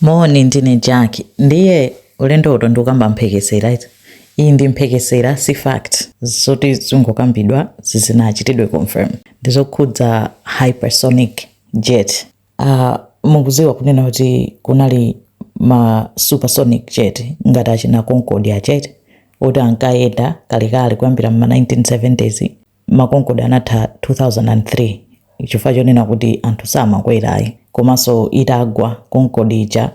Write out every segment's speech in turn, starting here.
Moni, ndine Jack. Ndiye ulendo uno ndikukamba mphekesera iti? Iyi ndi mphekesera si fact. Zoti zingokambidwa zisanachitidwe confirm. Ndizokhudza hypersonic jet. Uh, mukuziwa kunena kuti kunali ma supersonic jet ngati achina Concorde ma jet oti ankayenda kalekale kuyambira mma 1970s Ma Concorde anatha 2003 chifukwa chonena kuti anthu samakwerayi komanso itagwa Concorde ija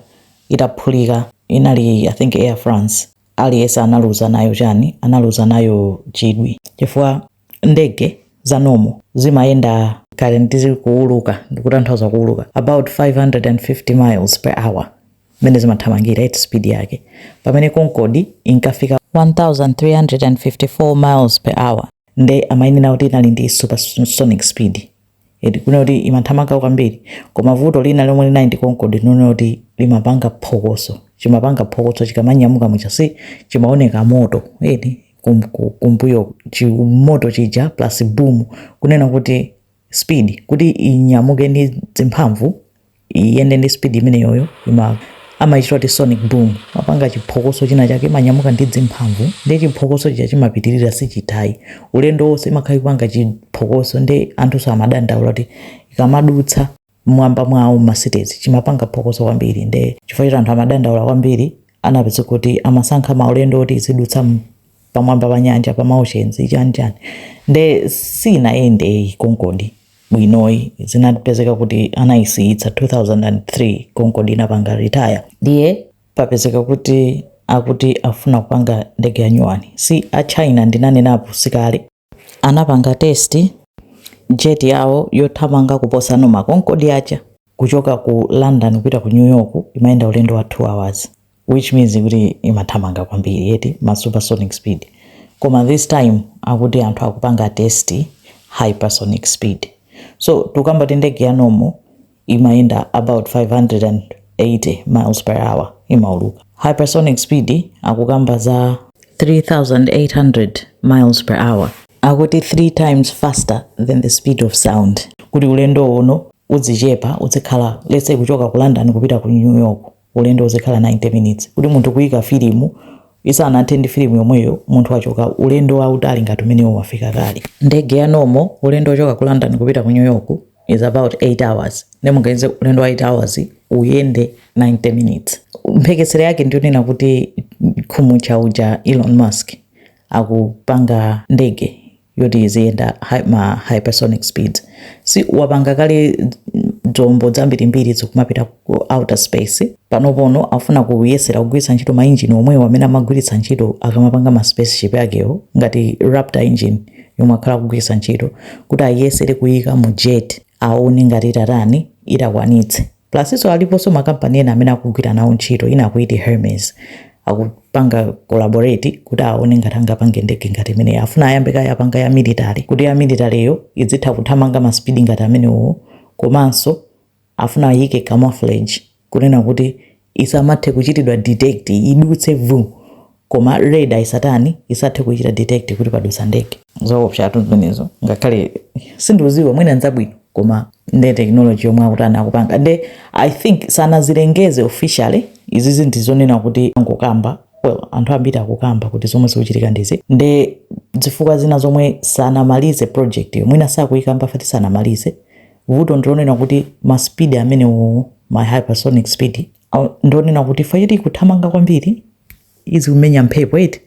itaphulika inali I think Air France aliyense analuza nayo chani analuza nayo chidwi chifukwa ndege za normal zimayenda kaya nditi kuuluka ndikutanthauza kuuluka about 550 miles per hour mmene zimathamangira eti speed yake pamene concorde inkafika 1354 miles per hour nde amainena kuti inali ndi supersonic speed eti kunena kuti imathamanga kwambiri koma vuto lina lomwe linali ndi concorde lonena kuti limapanga phokoso chimapanga phokoso chikamanyamuka mmtchaya si chimaoneka moto eti kum- ku- kumbuyo chi- moto chija plus boom kunena kuti speed kuti inyamuke ndi zimphamvu iyende ndi speed imeneyoyo ima amaitcha kuti sonic boom mapanga chiphokoso china chake imanyamuka ndi zimphamvu ndi chiphokoso chija chimapitirira sichithayi ulendo wonse imakhala ikupanga chiphokoso nde anthunso amadandaula kuti ikamadutsa mmwamba mwawo mma cities chimapanga phokoso kwambiri ndi chifukwa choti anthu amadandaula kwambiri anapeza kuti amasankha maulendo oti izidutsa m- pamwamba pa nyanja pa maoceans chani chani nde sinayendeyi konkodi bwinoyi zinapezeka kuti anayisiyitsa 2003 concorde inapanga retire ndiye papezeka kuti akuti afuna kupanga ndege ya nyuwani si a china ndinanenapo sikale anapanga test jet yawo yothamanga kuposa ma concorde aja kuchoka ku london kupita ku new york imayenda ulendo wa 2 hours which means kuti imathamanga kwambiri eti ma supersonic speed koma this time akuti anthu akupanga test hypersonic speed so tikukamba kuti ndege ya nomo imayenda about 580 miles per hour imauluka hypersonic speed akukamba za 3800 miles per hour akuti 3 times faster than the speed of sound kuti ulendo uno uzichepa uzikhala let's say kuchoka ku london kupita ku new york ulendo uzikhala 90 minutes kuti munthu kuyika filimu isanathe ndi filimu yomweyo munthu wachoka ulendo wautali ngati umenewo wafika kale ndege ya nomo ulendo wochoka ku london kupita ku new york is about 8 hours nde muganize ulendo wa 8 hours uyende 90 minutes mphekesera yake ndiyonena kuti khumutcha uja elon musk akupanga ndege yoti iziyenda hy- ma hypersonic speeds SpaceX wapanga kale dzombo dzambirimbiri zikumapita ku outer space panopono afuna kuyesera kugwiritsa ntchito mainjini omwewo amene amagwiritsa ntchito akamapanga ma spaceship akewo ngati raptor engine yomwe akhala akugwiritsa ntchito kuti ayesere kuyika mu jet aone ngati itatani itakwanitse Plusinso aliponso makampani ena amene akugwira nawo ntchito, ina akuyiti Hermes. Akupanga collaborate kuti aone ngati angapange ndege ngati imeneyi. Afuna ayambe kaye apanga ya military kuti ya militaryyo idzitha kuthamanga ma speed ngati amenewowo. Komanso afuna ayike camouflage kunena kuti isamathe kuchitidwa detect, idutse vuu. koma radar isatani isathe kuchita detect kuti padutsa ndege zoopsatu zimenezo ngakhale sindikudziwa mwina nzabwino koma nde technology yomwe akutani akupanga nde i think sanazilengeze officially izizi ndi zonena kuti angokamba anthu ambiri akukamba kuti zomwe zikuchitika ndizi nde zifukwa zina zomwe sanamalize project yo mwina sakuyikamba chifukwa choti sanamalize vuto ndilonena kuti ma speed amenewo ma hypersonic speed ndonena kuti chifukwa choti ikuthamanga kwambiri izikumenya mphepo eti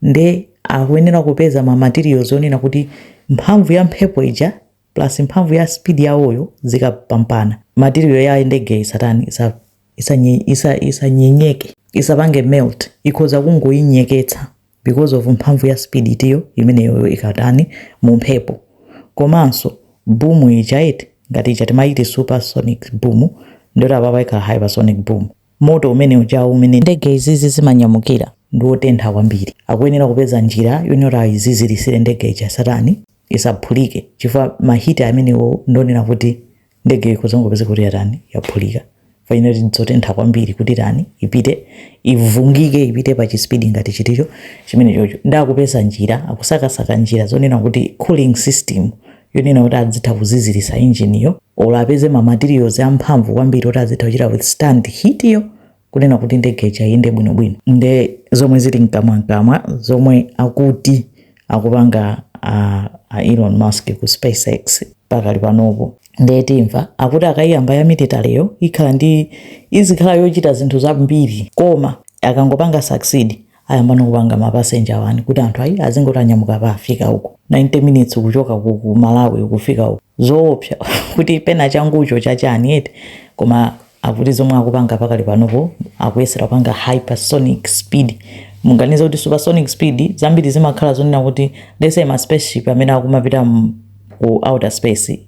nde akuyenera kupeza ma materials onena kuti mphamvu ya mphepo ija plus mphamvu ya speed yawoyo zikapampana material ya ndege isatani isa isanyenyeke isa, isa, isa isapange melt ikhoza kungoyinyenyetsa because of mphamvu ya speed itiyo imeneyoyo ikatani mu mphepo komanso boom ija eti ngati ija timayiti supersonic boom ndiyoti apapa ikhala hypersonic boom moto umene ujawu umene ndege izizi zimanyamukira ndi wotentha kwambiri akuyenera kupeza njira yoti awone azizilitsire ndege ija isatani isaphulike chifukwa ma heat amenewo ndi onena kuti ndege ikhoza kungopezeka kuti yatani yaphulika chifukwa chonena kuti dzotentha kwambiri kuti tani ipite ivungike ipite pa chispidi ngati chiticho chimene chocho nde akupeza njira akusakasaka njira zonena kuti cooling system yonena kuti adzitha kuziziritsa injiniyo olo apeze ma materials amphamvu kwambiri oti azitha kuchita withstand heat yo kunena kuti ndege ija iyende bwinobwino nde zomwe zili mkamwamkamwa zomwe akuti akupanga a, a elon musk ku spacex pakali panopo nde timva akuti akayiyamba ya militaryyo ikhala ndi izikhala yochita zinthu zambiri koma akangopanga succeed ayamba nokupanga ma passenger ones kuti anthu ayi azingoti anyamuka apa afika uku 90 minutes kuchoka ku ku Malawi kufika uku zoopsa kuti pena changucho cha chani eti koma akuti zomwe akupanga pakali panopo akuyesera kupanga hypersonic speed mungoganiza kuti supersonic speed zambiri zimakhala zonena kuti let's say ma spaceship amene akumapita mu- ku outer space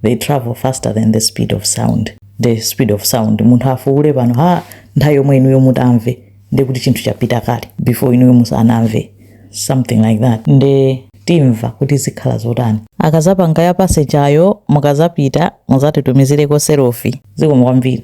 they travel faster than the speed of sound the speed of sound munthu afuule pano ha nthawi yomwe inuyo mutamve nde kuti chinthu chapita kale before inuyo musanamve something like that nde timva kuti zikhala zotani akazapanga ya passenger yo mukazapita muzatitumizireko selfie zikomo kwambiri